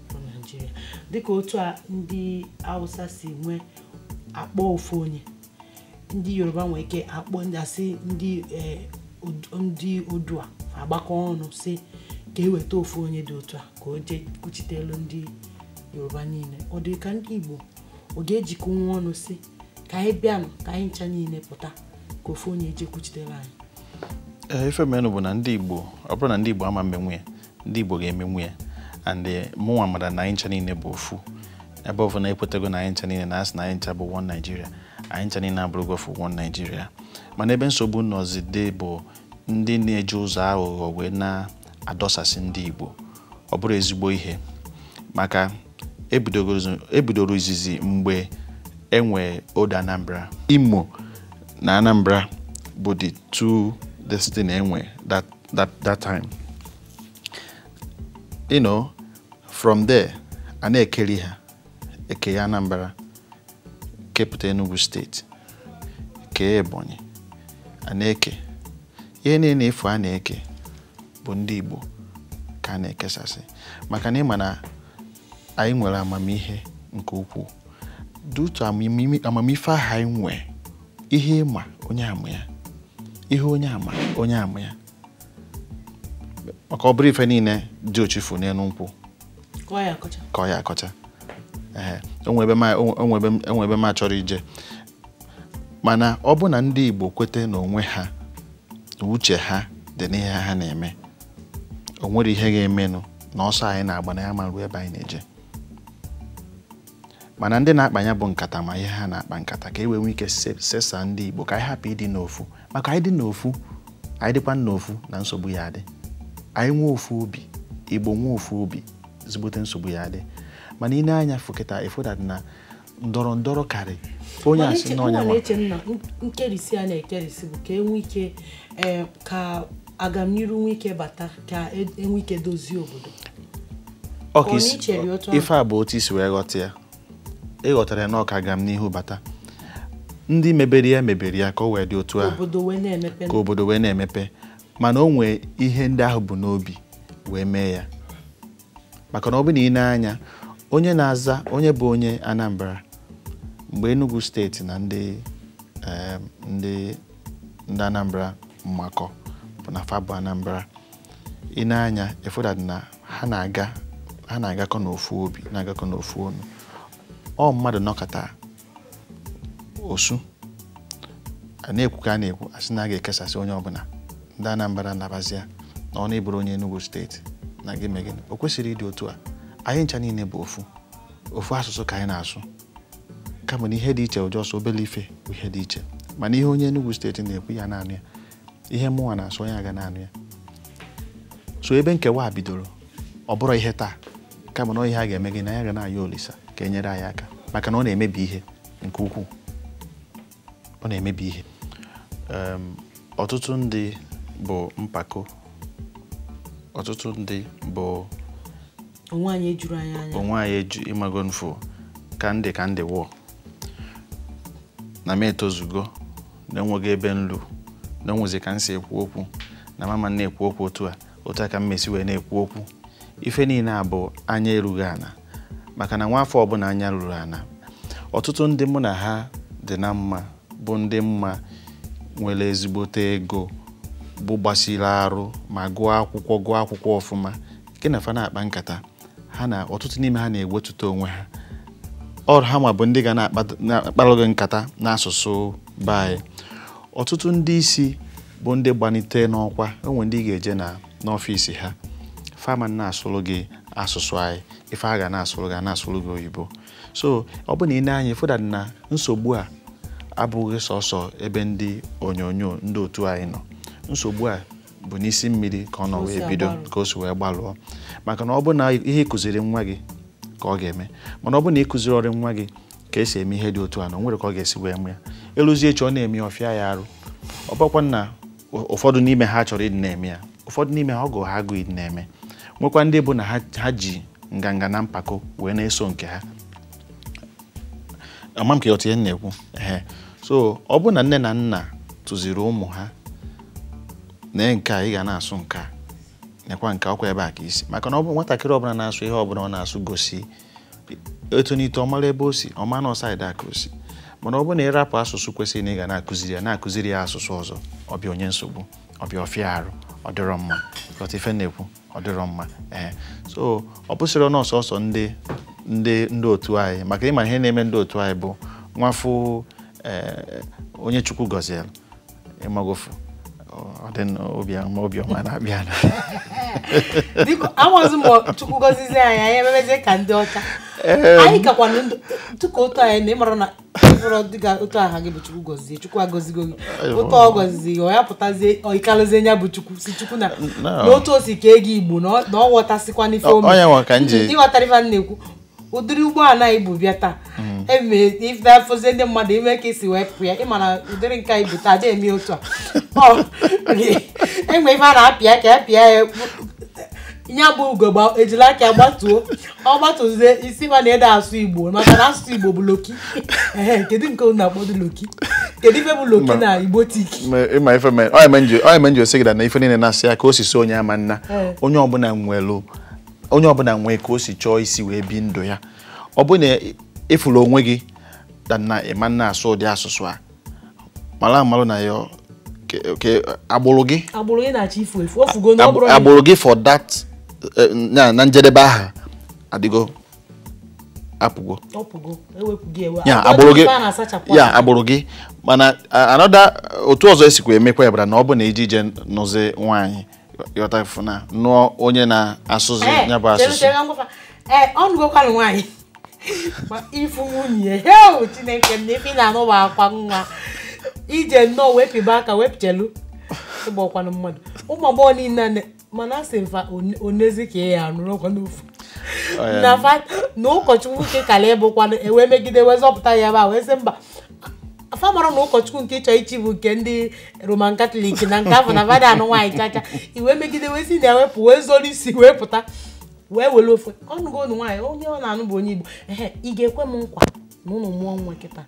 bụ Nigeria dịka otu a ndị awụsa si nwee akpọ ofu onye ndị yoruba nwee ike akpọ ndị a sị ndị eh, ndị odua agbakọ ọnụ sị ka eweta ofu onye dị otu a ka o jee kwuchitelu ndị yoruba niile ọ dị gị ka ndị igbo ọ ga-ejikọnwu ọnụ sị ka anyị bịanụ ka anyị ncha niile pụta ka ofu onye jee kwuchitere anyị ee ife menụ bụ na ndị Igbo ọ bụrọ na ndị Igbo ama emenwu ya ndị Igbo ga-emenwu ya and eh, mụnwa mara na anyị ncha niile bụ ofu ebe ọ bụ na ekwetago na anyị ncha niile na a sị na anyị ncha bụ one Nigeria anyị ncha niile abụrụgo ofu one Nigeria mana ebe nsogbu nọzide bụ ndị na-eji ụzọ aghụghọ wee na-adọsasị ndị Igbo ọ bụrọ ezigbo ihe maka e bidoro izizi mgbe e nwe Old Anambra Imo na Anambra bụ the two this thing e nwe that, that, that time you know from there a na-ekeri ha e kee Anambra kepụta Enugu steeti kee Ebonyi a na-eke ihe niile ị fụ a na-eke bụ ndị Igbo ka a na-ekesasị maka na ịma na anyị nwere amamihe nke ukwuu due to amamife ahụ anyị nwee ihe ịma onye ama ya ihe onye ama onye ama ya maka ọ bụrọ ife niile diochi fụ n'elu nkwụ ka ọ ya-akọcha o nwe ebe m achọrọ ije mana ọ bụ na ndị Igbo kweta n'onwe ha na uche ha dị n'ihe ha na-eme o nwere ihe ga-emenụ na ọsọ anyị na-agba na ya ma ruo ebe anyị na-eje mana ndị na-akpa ya bụ nkata ma ihe ha na-akpa nkata ka e wee nwee ike se- sesa ndị Igbo ka anyị hapụ ịdị n'ofu maka anyị dị n'ofu anyị dịkwa n'ofu na nsogbu ya adị anyị nwee ofu obi Igbo nwee ofu obi ezigbote nsogbu ya adị mana i nee anya fụ kịta ị fụ that na ndọrọ ndọrọ karị onye a sị na onye nwa eche na nkerisi a na-ekerisi bụ ka enwe ike eh, ka agamniru nwe ike bata ka e, enwe ike dozie obodo ife a bụ otu i si wee ghọta ya ị ghọtara ya na ọ ka agamnihu bata ndị mebere ya mebere ya ka o wee dị otu a ka obodo wee na-emepe mana o nwee ihe ndị ahụ bu n'obi wee mee ya maka na ọ bụ na i nee anya onye na-aza onye bụ onye Anambra mgbe Enugu steeti na ndị em, ndị ndị Anambra mmakọ bụ na fa bụ Anambra i nee anya ị fụ that na ha na-aga ha na-agakọ n'ofu obi na-agakọ n'ofu ọnụ ọ mmadụ nọkata osu a na-ekwu ka a na-ekwu a sị na a ga-ekesasị onye ọbụla ndị Anambra nabazia n'ụnọ ị bụrụ onye Enugu steeti na gị mee gịnị o kwesịrị ịdị otu a anyị ncha niile bụ ofu ofu asụsụ ka anyị na-asụ kama na ihe dị iche just obere ife bụ ihe dị iche mana ihe onye Enugu steeti na-ekwu ya na-anụ ya ihe mụnwa na-asụ onye a ga na-anụ ya so ebe nkewa a bidoro ọ bụrọ ihe taa kama na ihe a ga-eme gịnị a ga na-ayọ Olisa ka e nyere anyị aka maka na ọ na-emebi ihe nke ukwuu ọ na-emebi ihe Em, ọtụtụ ndị bụ mpako ọtụtụ ndị bụ onwe anyị ejuru anyị anya onwe anyị eju ị mago nfo ka ndị ka ndị wụọ na m etozugo na o nweghị ebe m lu na o nwezi ka m si ekwu okwu na m ama na-ekwu okwu otu a otu a ka m mesi wee na-ekwu okwu ife niile a bụ anya erughị ana maka na nwa afọ ọbụna anya ruru ana ọtụtụ ndị mụ na ha dị na mma bụ ndị m ma nwere ezigbote ego bụ gbasiri arụ ma gụọ akwụkwọ gụọ akwụkwọ ọfụma gị na fa na-akpa nkata ha na ọtụtụ n'ime ha na-ewetuta onwe ha ọ bụ ha nwa bụ ndị ga na-akpalụ gị nkata n'asụsụ be anyị ọtụtụ ndị isi bụ ndị gbanite n'ọkwa e nwe ndị ị ga-eje na n'ọfịs ha ama na-asụrụ gị asụsụ anyị ife ha ga na-asụrụ gị na-asụrụ gị oyibo so ọ bụ na i nee anya ị fụta na nsogbu a abụghị sọsọ ebe ndị onyonyo ndị otu anyị nọ nsogbu a bụ n'isi mmiri ka ọ nọ wee bido ka o si wee gbalụọ maka na ọ bụ na ihe ị kụziri nwa gị ka ọ ga-eme mana ọ bụ na ị kụzirọrọ nwa gị ka e si eme ihe dị otu a na o nwere ka ọ ga-esi wee mee ya e luzie echi ọ na-eme ya ọ fịa ya arụ ọ bụkwa na ụfọdụ n'ime ha chọrọ ịdị na-eme ya ụfọdụ n'ime ha ọ gụrụ ha agụụ ịdị na-eme nwekwa ndị bụ na ha ji nganga na mpako wee na-eso nke ha ama m ka ị ghọta ihe m na-ekwu ehe so ọ bụ na nne na nna tụziri ụmụ ha nee nke a ị ga na-asụ nke a nekwa nke ọkwa ebe a ka i si maka na ọ bụ nwatakịrị ọbụna na-asụ ihe ọbụna ọ na-asụ gosi o tonite ọ mara ebe o si ọ ma na ọ side a ka o si mana ọ bụ na ị rapụ asụsụ kwesịrị na ị ga na-akụziri ya na-akụziri ya asụsụ ọzọ ọ bịa o nye nsogbu ọ bịa ọ fịa arụ ọ dịrọ mma ghọta ife m na-ekwu ọ dịrọ mma ee so ọ bụsịrọnụ sọsọ ndị ndị ndị otu anyị maka ị ma ihe na-eme ndị otu anyị bụ nwafụ ee onye chukwu gọziere ị mago fụ ọ dị na obi ọma obi ọma na-abịa na biko amaghịzi m ma chukwu gọzizi anyị anyị emebezie ka ndị ọcha anyị kakwanụ ndụ tuka otu anyị na ị mara na bụrụ dịka otu aha gị bụ chukwu gọzie chukwu agọzigo gị otu ọ gọzizi gị ọ ya pụtazie ọikalụzie nya bụ chukwu si chukwu na n'otu o si kee gị igbo na ọ ghọtasịkwa n'ife omi ị ghọtara ife a na-ekwu ụdịrị ụgbọala i bu bịa taa mm. ebe afọzie ndị mmadụ ịma ka e si wee pụ ya ị ma na ụdịrị nke i bu taa dị eme otu a e nwe ife a na-apịa ka ya pịa ya ya bụ ugogbe ejili aka gbatuo ọ gbatụzie ị sị ma na ede asụ igbo maka na asụsụ igbo bụ local ehe kedu nke unu akpọdu local kedu ife bụ local na igbo tiki ị ma ife mere onye menji onye menji osi gị na ife niile na-asụ ya ka o si sọ onye ị ma na onye ọbụna nwelu onye ọbụna nwee ka o si chọọ isi wee bi ndụ ya ọ bụ na ị fụrụ onwe gị na ị ma na-asụ ụdị asụsụ a mara amalụ na ya ke agbụrụ gị agbụrụ gị na-achọ ifu efu o fugo na ọ bụrụ agbụrụ gị for that eh, na na njedebe aha adịgo apụgo e ya agbụrụ gị ya agbụrụ gị mana another otu ọzọ esikwa emekwa ya bara na ọ bụ na iji ije nụzi nwaanyị yọta fụ na nụọ onye na-asụzi eh, ya bụ asụsụ eh, ọ nụgokwanụ nwaanyị ma ị fụ nwunye heo chineke m na ife na-anụ bụ akwa nwa ije nnọọ wee pịba aka wee pịchelu ịgba ọkwanụ mmadụ ụmụ agbọghọ niile mana a sị mfa onezi ka ya anụrụ ọkwa n'ofu na ụkọchukwu nke kala ịbụkwanụ e wee megide wee zọpụta ya ebe a wee sị mba afa mara na ụkọchukwu nke ị chọ ichi bụ nke ndị roman katọlik na nke afụ na fa ada anụ nwaanyị chacha e wee megide wee si na ewepụ wee zoro isi wee pụta wee were ofe ọ nụgonụ nwaanyị onye ọ na-anụ bụ onye igbo ehe ị ga-ekwe m nkwa na unu mụọ nwa kịta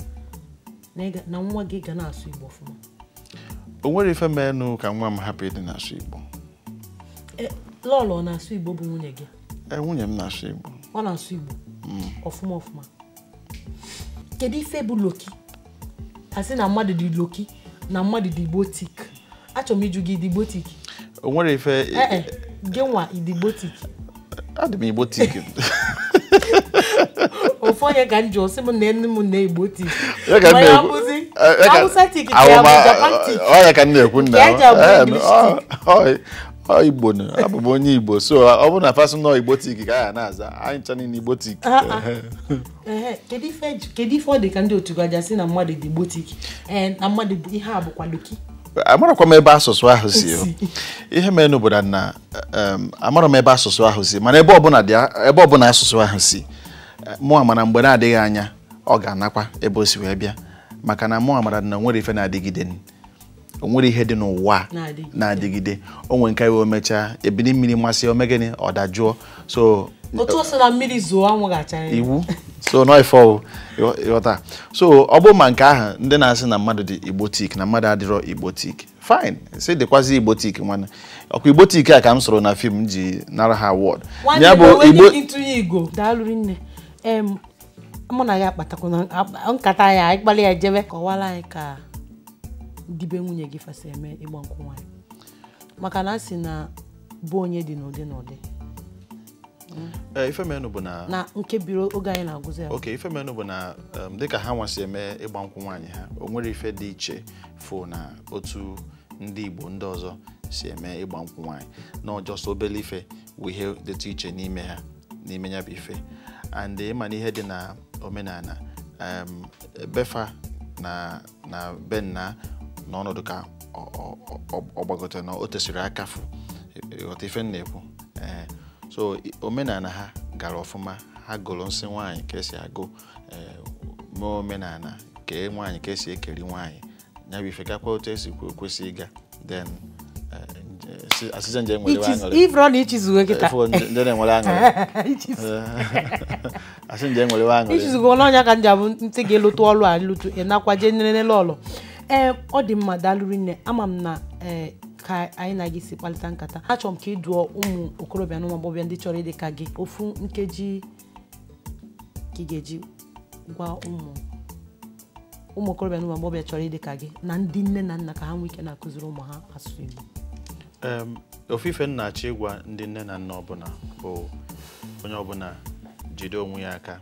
na nwa gị ga na-asụ igbo ọfụma o nwere ife menụ ka nwa m hapụ ịdị na-asụ igbo e, lọlọ na-asụ igbo bụ nwunye gị e, nwunye m na-asụ igbo ọ na-asụ igbo mm. ọfụma ọfụma kedu ife bụ loki a sị na mmadụ dị loki na mmadụ dị igbotik achọrọ m ịjụ gị dị igbotik o nwere ife eh, eh, gị nwa ị dị igbotik adị m igbotik ofu onye ka m ji ọ sị m na enu m na igbotik m ya-abụzi awụsatik ka ya bụ japantik ọ ya ka m na-ekwu nna Ọ Igbo na abụ m onye Igbo so ọ bụrụ na fa sị na ọ Igbotik ka ya na-aza anyị ncha niile Igbotik Ah, ah. Ehe, kedu ife eji- kedu ife ọ dị ka ndị otu gị ji asị na mmadụ dị Igbotik ee na mmadụ bụ ihe a bụkwa loki amarakwa m ebe asụsụ ahụ si o. ihe mere n'obodo na em, amara m ebe asụsụ ahụ si mana ebe ọbụla dị a- ebe ọbụla asụsụ ahụ si eh, mụwa mara mgbe na-adịghị anya ọ ga-anakwa ebe o si wee bịa maka na mụwa mara na o nwere ife na-adịgide o nwere ihe dị n'ụwa na-adịgide o nwere nke ya o mechaa ebili mmiri masịa o mee gịnị ọ dajụọ so otu ọsọ na mmiri zoo anwụ ga-acha iwu so nọifọ ị ghọta so ọ bụrụ ma nke ahụ ndị na-asị na mmadụ dị igbotik na mmadụ adịrọ igbotik fine si dịkwazi igbotik nwanne ọ kwa igbotik a ka m sụrụ na film ji nara ha award ya bụ igbo mụ na gị akpatakwanụ nkata ya anyị kpali ya jebe kọwara anyị ka ndị be nwunye gị fa si eme ịgba nkwụ nwaanyị maka na a sị na ọ bụ onye dị n'Udi n'Udi Eh, ife menụ bụ na na nke biri oge anyị na-agwụzi ya okay ife menụ bụ na um, dịka ha nwa si eme ịgba nkwụ nwaanyị ha o nwere ife dị iche fụ na otu ndị Igbo ndị ọzọ si eme ịgba nkwụ nwaanyị na ọ just obele ife wụ ihe dịtụ iche n'ime ha n'ime ya bụ ife and ịma na ihe dị na omenala em, be fa na na be nna na ọnọdụ ka ọ- ọ- ọ- ọ gbagọtara na o tesiri akafu ịghọta ife m na-ekwu ee so i- omenala ha gara ọfụma ha gụrụ nsị nwaanyị ka esi agụ ee, mee omenala kee nwaanyị ka esi ekeri nwaanyị ya bụ ife gakwa otu esi kwesị ịga then asịza nje nwere aṅụrị ifro na ichizugo kịta ndị na-enwere aṅụrị asị nje nwere aṅụrị ichizugo n'ọnya ka nja bụ ntị gị lụtụ ọlụ a lụtụ ịnakwa jee nere n'elu ọlụ ee ọ dị mma daalụ rinne ama m na ee ka anyị na gị si kpalịta nkata achọrọ m ka ị dụọ ụmụ okorobịa na ụmụ agbọghọbịa ndị chọrọ ịdị ka gị ofu nkeji ka ị ga-eji gwa ụmụ ụmụ okorobịa na ụmụ agbọghọbịa chọrọ ịdị ka gị na ndị nne na nna ka ha nwee ike na-akụziri ụmụ ha asụsụ Igbo Em, ofu ife m na-achọ ịgwa ndị nne na nna ọbụla bụ onye ọbụla jide onwe ya aka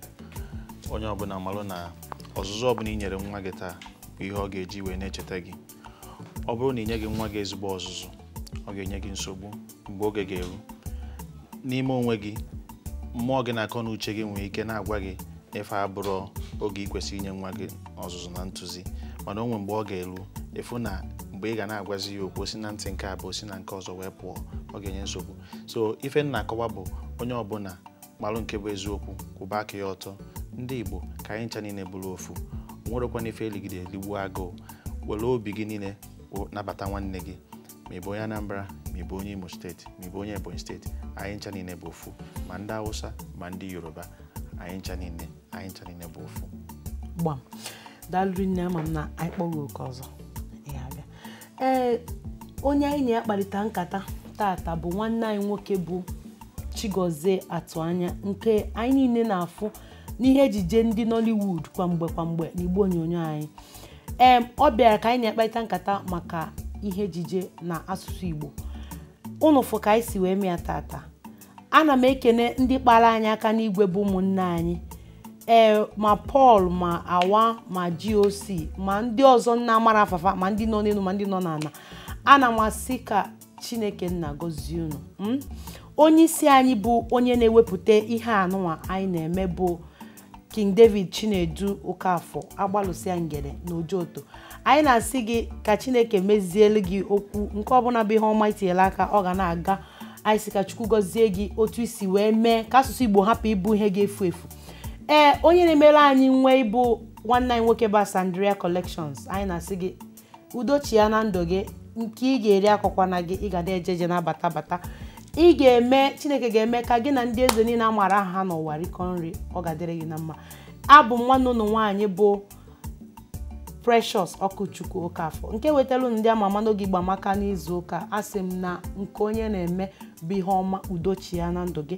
onye ọbụla malụ na ọzụzụ ọbụla i nyere nwa gị taa bụ ihe ọ ga-eji wee na-echeta gị ọ bụrụ na ị nyeghị nwa gị ezigbo ọzụzụ ọ ga-enye gị nsogbu mgbe oge ga-eru n'ime onwe gị mmụọ gị na akọ na uche gị nwere ike na-agwa gị na ife a bụrụ oge ị kwesịrị inye nwa gị ọzụzụ na ntụzi mana o nwe mgbe ọ ga-eru ị fụ na mgbe ị ga na-agwazi ya okwu si na ntị nke a baa si na nke ọzọ wee pụọ ọ ga-enye nsogbu so ife m na-akọwa bụ onye ọbụla malụ nke bụ eziokwu kwụba aka ya ọtọ ndị Igbo ka anyị ncha niile bụrụ ofu o nwerọkwanụ ife eligide eligbuo agụụ were obi gị niile nabata nwanne gị ma ị bụ onye Anambra ma ị bụ onye Imo steeti ma ị bụ onye Ebonyi steeti anyị ncha niile bụ ofu ma ndị Hausa ma ndị Yoruba anyị ncha niile anyị ncha niile bụ ofu gbam daalụ rinne ama m na anyị kpọọ gị oku ọzọ ị ya-abịa ee onye anyị na ya kparịta nkata tata bụ nwanne anyị nwoke bụ Chigozie Atụanya nke anyị niile na-afụ n'ihe ejije ndị Nollywood kwa mgbe kwa mgbe n'igbe onyonyo anyị ee ọ bịara ka anyị na-akparịta nkata maka ihe ejije na asụsụ Igbo unu fụ ka anyị si wee mee ya tata ana m ekene ndị kpara anyị aka n'igwe bụ ụmụnne anyị ee ma Pọl ma Awa ma GOC ma ndị ọzọ m na-amarọ afa fa ma ndị nọ n'elu ma ndị nọ n'ala ana m asị ka Chineke nna gọzie unu onye isi anyị bụ onye na-ewepụta ihe anụnwa anyị na-eme bụ King David Chinedu Okafor Agbalụsịa Ngene na Ojoto anyị na-asị gị ka Chineke mezielu gị okwu nke ọbụla bụ ihe ọma i tinyela aka ọ ga na-aga anyị sị ka Chukwu gọzie gị otu i si wee mee ka asụsụ Igbo hapụ ịbụ ihe ga-efu efu ee onye na-emere anyị uwe bụ nwanne anyị nwoke bụ Asandrea Collections anyị na-asị gị udo chịa na ndụ gị nke ị ga-eri akọkwana gị ị ga na-eje eje na-abata abata ị ga-eme chineke ga-eme ka gị na ndị eze niile a maara aha ha n'ụwa rikọọ nri ọ ga-adịrị gị na mma abụ m nwanne ụnụ nwaanyị bụ precious okwuchukwu okafọ nke wetara ụnụ ndị ama ama n'oge igbo amaka n'izu ụka a sị m na nke onye na-eme bụ ihe ọma udo chịa na ndụ gị